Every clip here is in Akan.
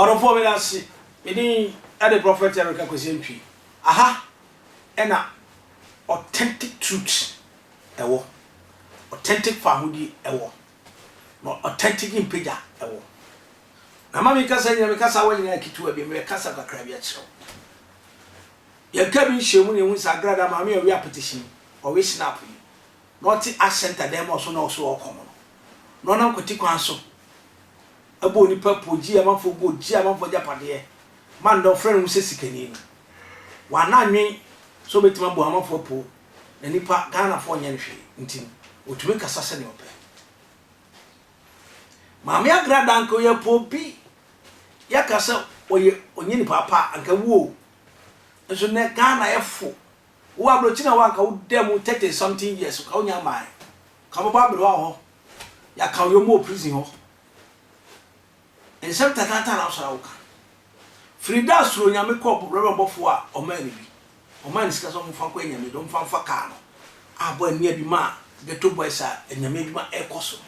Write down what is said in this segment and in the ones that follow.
ɔdɔfoɔ meda ase medin ɛde prophet Eric Akwasi Antwi aha ɛna authentic truth ɛwɔ authentic fahodie ɛwɔ na authentic mpagya ɛwɔ Na ma me kasa nyina, me kasawa nyina yɛ ketewa bi, meyɛ kasa kakra bi akyerɛ wo. Yɛn ka bi nhyiamu na yɛhu sɛ agrada maame a ɔwe apetition yi, ɔwe snap yi, na ɔte ash center dan mu a ɔso na ɔso ɔɔkɔm no, na ɔnam kwati kwan so bɔ onipa po, gye amanfoɔ gold, gye amanfoɔ agyapadeɛ, ma nnɛ ɔfrɛ ne ho sɛ sikani no, wanna nnwen sɛ ɔbɛtumi abɔ amanfoɔ po na nipa, Ghanafoɔ nyɛ no hwee nti no, ɔtumi kasa sɛdeɛ ɔpɛ. Maame Agrada anka ɔyɛ po bi yɛka sɛ ɔyɛ ɔnyɛ nipa pa anka wu o nso nɛ Ghana yɛ fo wo abrɔkyiri na wo anka wo da mu thirty something years nka wo nya mmae nka ɔbɛbɔ aberewa wɔ hɔ yɛaka ɔyɛ ɔmo wɔ prison hɔ. Nsɛm tataataa na wosɔre a woka. Firi da a Suro Nyame kɔɔ Brɔbɛma bɔfoɔ a ɔmaa no bi, ɔmaa no sika sɛ ɔmfa nkɔ anyame de, ɔmfa mfa kaa no, abɔ annia bi maa Ghetto Boys a anyame adwuma ɛrekɔ so no.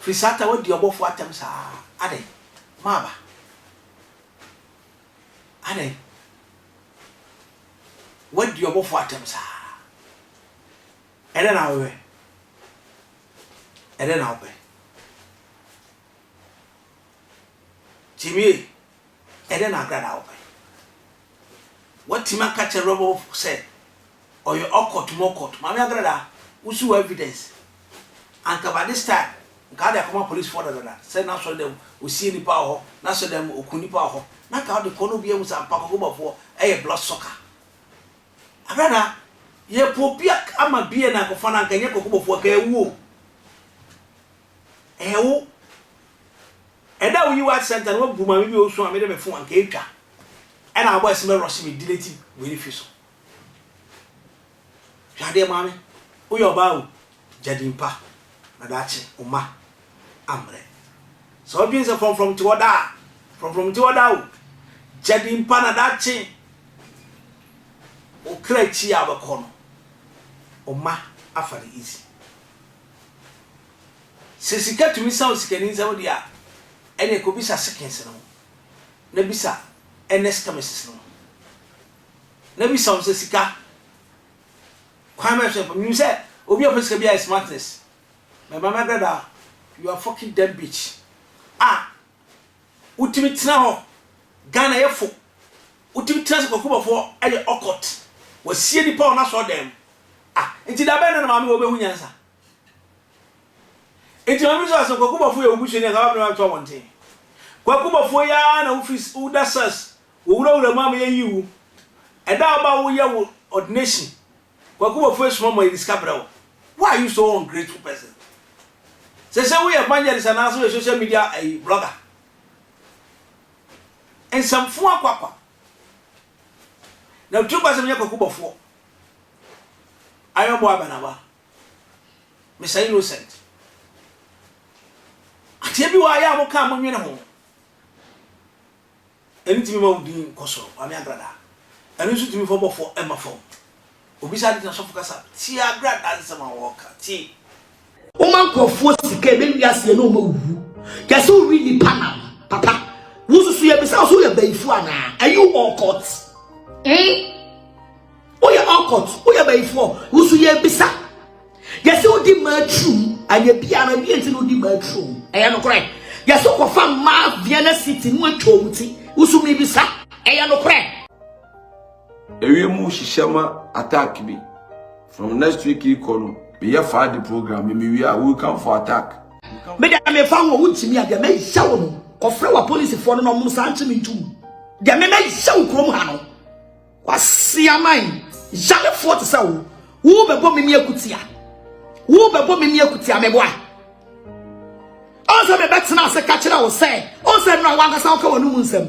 Firi saa ta woadi ɔbɔfoɔ atɛm saa adɛn? Maaba. Adɛn? Woadi ɔbɔfoɔ atɛm saa. Ɛdɛn na wopɛ? Ɛdɛn na wopɛ? Gyimie, ɛdɛn na Agrada a wopɛ? Woatumi aka kyerɛ Rebel fo sɛ ɔyɛ ɔkɔt mu ɔkɔt. Maame Agrada, wo so wɔ evidence? Anka by this time, nka wode akɔma police foɔ dadada sɛ n'asɔre dɛm ɔsiee nnipa wɔ hɔ, n'asɔre dɛm ɔku nnipa wɔ hɔ, na anka wode kɔ na obiara ahu sɛ ampa Kokoba foɔ yɛ blood sucker. Agrada, yɛpɛ obi ama bie na akɔfa no, anka ɛnyɛ Kokoba foɔ, anka ɛwu o. Ɛyɛ wo. Ɛda a woyi wo art center no woabu maame bi a ɔresu a mede me fon anka ɛtwa. Ɛna abɔ ɛse mɛ rush me delete wei no firi so. Hwɛ adeɛ maame, woyɛ ɔbaa o, gya din pa na daakye wo mma ammrɛ. Sɛ wodwene sɛ frɔmfrɔm te hɔ daa a, frɔmfrɔm nte hɔ daa o, gya din pa na daakye wo kra akyi a wobɛkɔ no, wo mma afa no easy. Sɛ sika tumi sa osikani nsɛm deɛ a, ɛneɛ kɔbisa Sikins no ho, na bisa Ernest Kamisis no ho, na bisa wɔn sɛ sika kwan bɛn so na ɛfa mu. Menim sɛ obi a ɔpɛ sika biara yɛ smartness, but Maame Agradaa, you are fucking dumb bitch a wotumi tena hɔ, Ghana yɛ fo, wotumi tena sɛ Kwaku Bɔfoɔ yɛ Okot, wasie nipa wɔ n'asɔɔdan mu, Ah, enti da bɛn na na Maame wɔ bɛhu nyansa? Enti Maame nso asɛ Kwaku Bɔfoɔ yɛ wo busuani anka w'abena bɛto abɔnten. Kwaku Bɔfoɔ yi ara na wofi woda Sars wɔ wurawura mu ama yɛyii wo. Ɛda a woba a woyɛ wo ordination, Kwaku Bɔfoɔ asuma ma yɛde sika brɛ wo. Why are you so ungrateful person? Seesei woyɛ evangelist anaasɛ woyɛ social media ayi blogger? Nsɛmfua kwakwa. Na wo tirim basɛm nyɛ Kwaku Bɔfoɔ. Ayɔbɔ aba na aba. Mister Innocent, adeɛ bi wɔ ha yɛ a moka a monwene ho. Ɛno tumi ma wo din kɔ soro, Kwame Agrada. Ɛno nso tumi fa ɔbɔfoɔ ma fam. Obisa ade na sɔfo kasa, tie Agrada nsɛm a ɔreka, tie. Woma nkurɔfoɔ sika ɛbɛ wiase ɛna ɔma wuwu yɛsɛ wowi nipa nam papa wosusu yɛbisa wo so woyɛ bayifu anaa are you all court eh woyɛ all court woyɛ bayifoɔ wosu yɛbisa yɛsɛ wodi mmaa turum anyɛ bia no ɛdeɛ nti na wodi mmaa turum ɛyɛ nokorɛ yɛsɛ wokɔfa mmaa vienna city no atwa ɔmu ti wosu mebisa ɛyɛ nokorɛ Ewie mu hyehyɛ ma attack bi. From next week ikɔ no, meyɛ faa de program me mewie a, we come for attack. Me da me fa ho, wontumi a deɛ mɛyɛ wo no, kɔfrɛ wa polisifoɔ no na ɔmo saa nkye me ntum. Deɛ me mɛyɛ wo kurom ha no, waseaman, yarefoɔ te sɛ wo, wo bɛbɔ me ne akutia, wo bɛbɔ me ne akutia meboa. Ɔn sɛ mebɛtena ase ka kyerɛ wo sɛ, ɔn sɛ ɛno a w'ankasa woka w'ano mu nsɛm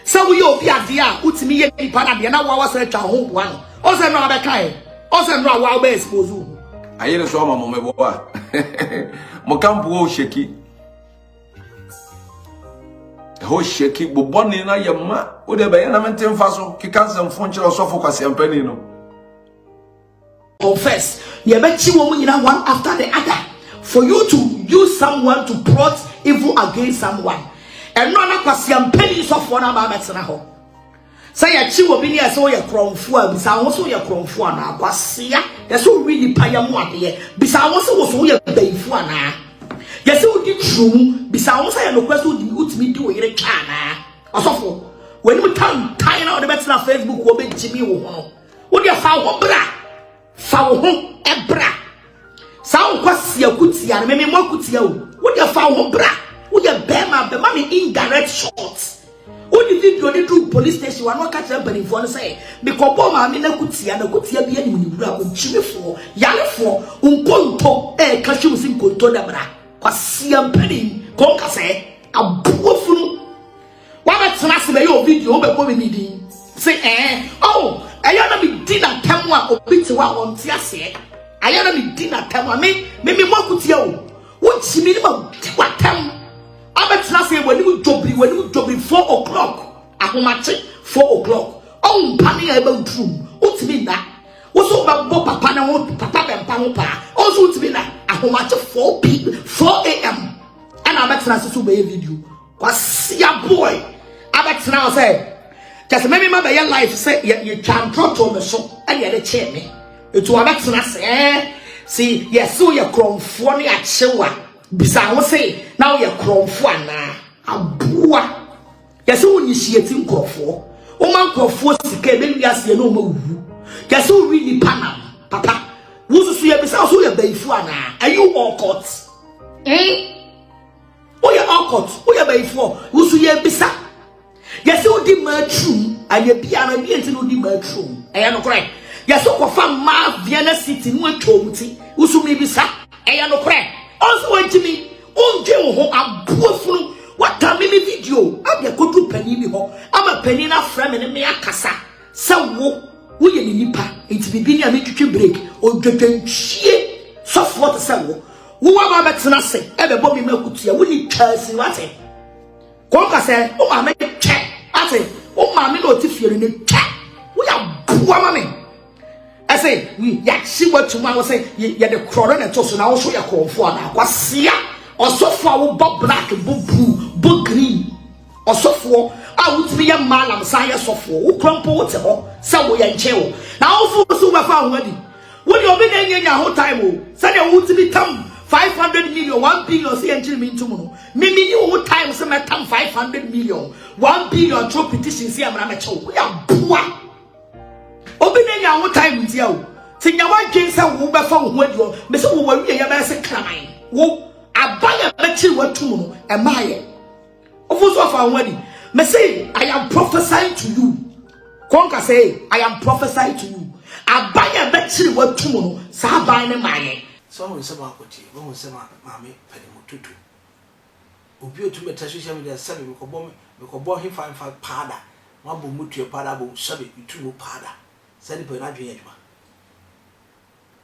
sɛ woyɛ obi adeɛ a wotumi yɛ nipa no adeɛ na woa woasan atwa wo ho boa no, ɔn sɛ ɛno a wabɛka ɛ, ɔn sɛ ɛno a woa wobɛ expose wo ho. Ayere so ama mo me boa mo kampo hɔ sheki ɛhɔ sheki bobɔne no ayɛ ma wode bɛyɛ na mente mfa so keka nsɛmfo nkyerɛ ɔsɔfo kwaseampani no confess yɛbɛkye wɔn nyinaa one after the other for you to use someone to plot evil against someone ɛno na kwasia mpanyin sɔfoɔ no aba abɛtena hɔ sɛ yɛkye wɔ bi ne ɛsɛ woyɛ korɔmfoɔ a bisa ho so woyɛ korɔmfoɔ anaa kwasia yɛsɛ wowi nipa yɛ mu adeɛ bisa ho so wo so woyɛ bayifoɔ anaa yɛsɛ wodi turo mu bisa ho sɛ yɛ nokorɛ sɛ wodi wotumi di wo yere twa anaa ɔsɔfoɔ w'anim tan tan na wɔde bɛtena facebook wɔbɛgyimi wo ho no Wodeɛ fa wo ho bra fa wo ho bra saa wokɔ si akutia no meme mo akutia o wodeɛ fa wo ho bra woyɛ bɛrima bɛma me indirect shot wode video ne duru police station wano ɔka kyerɛ mpanimfoɔ no sɛ mekɔbɔ maame no akutia na akutia bi anim ne wura ɔkyimifoɔ yarefoɔ nkonto ɛɛka hwɛ mu si nkonto dabra kwasia mpanin kɔnkasɛ aboa funu Wabɛtena ase bɛyɛ obi deɛ wobɛbɔ me ne din se ɛɛ oh ɛyɛ na medi n'atam a obi te hɔ a ɔnte aseɛ ayɛ na medi n'atam a me me me mɔkutia o wogye me ne ma di w'atam abɛtena ase w'anim dwobiri w'anim dwobiri four o'clock ahomakye four o'clock ɔmpa ne a ɛbɛ woturu mu wotumi nna woso wobɛbɔ papa ne ho papa bɛmpa ho paa ɔnso wotumi nna ahomakye four p four am ɛna abɛtena ase so wobɛyɛ video Kwasi Aboy abɛtena hɔ sɛ kyɛ sɛ mɛmema bɛyɛ life sɛ yɛtwa ntorɔtoo me so ɛne ɛde kyee me ɛtu abɛtena sɛ si yɛse woyɛ korɔmfoɔ ne akyewa bisa ho se na woyɛ korɔmfoɔ anaa aboa yɛse wo initiate nkorɔfoɔ woma nkorɔfoɔ sika ɛbɛwi aseɛ ne ɔma wuwu yɛse wowi nipa nam papa wosusu yɛbisa wo so woyɛ bayifoɔ anaa are you all caught eh? Woyɛ ɔkɔt, woyɛ bayifoɔ, wo so yɛbisa. Yɛsɛ wodi mmaa turom, ayɛ biara deɛ nti na wodi mmaa turom. Ɛyɛ nokorɛ. Yɛsɛ wokɔfa mmaa Vienna City na watwa wɔn ti. Wo so mebisa. Ɛyɛ nokorɛ. Ɔnso wagye mi, wondwe wo ho, aboa funu. Watame me video, ade akodu panin bi hɔ, ama panin no afrɛ me ne me akasa. Sɛ wo, woyɛ ne nipa, nti bibi ni a metwitwi break, odwodwantwie sɔfoɔ te sɛ wo, wo waba bɛtena ase, ɛbɛbɔ me ma kutua, wo ni twɛsi wate, kɔnka sɛ, wo maame twɛ, ate, wo maame na ɔte fie no ne twɛ, wo yɛ aboa ma me, ɛsɛ, yɛakye watum a wo sɛ, yɛde korɔ na ɛto so, na wo so yɛ korɔmfoɔ anaa, kwasia, ɔsɔfoɔ a wobɔ black, bɔ blue, bɔ green, Ɔsɔfoɔ a wotumi yɛ mmaa nam san yɛ sɔfoɔ wo kura mpo wote hɔ sɛ woyɛ nkyɛn o na awofo so wobɛfa ho adi wo deɛ obi na ɛnyɛ nya ho time o sɛdeɛ wotumi tam 500 million 1 billion sɛ yɛnkyere me ntom no me menni wo ho time sɛ mɛtam 500 million 1 billion twerɛ petition sɛ yɛmmara mɛkyɛ wo woyɛ aboa obi na ɛnya ho time ntia o sɛ nya woadwen sɛ wobɛfa wo ho adi hɔ me sɛ wowɔ awie yɛbɛyɛ sɛ kraman wo aba yɛ bɛkyere woatom no ɛmaayɛ Ɔfo nso afa ho adi. Me se, I am prophesying to you. Kɔnka sɛ, I am prophesying to you. Aban a ɛbɛkyere watu mu no, saa aban no maa yɛn. Sɛ woahu nsɛm a ɔkɔ tie, woahu nsɛm a Maame Padimu tutu. Obi a otumi tra social media sɛbe mekɔbɔ mekɔbɔ hefa hefa paada, moabom motua paada abom sɛbe metu mu paada. Saa nipa yi n'adwene yɛ adwuma.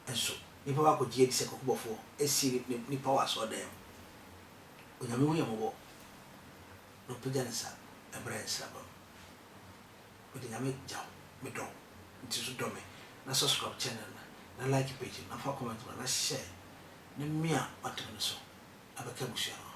nso, nnipa baako gye adi sɛ kɔkɔbɔfoɔ asie ne ne nipa wɔ asɔredan mu. Onyame hu yɛn mmɔbɔ na ɔpagya ne nsa mmra yɛn nsraba mu. Mede Nyame gya wo, me dɔ wo nti nso dɔ me na subscribe channel no na like page no na fa comment ma na share na mia ɔdem no so na bɛka abusua no ho.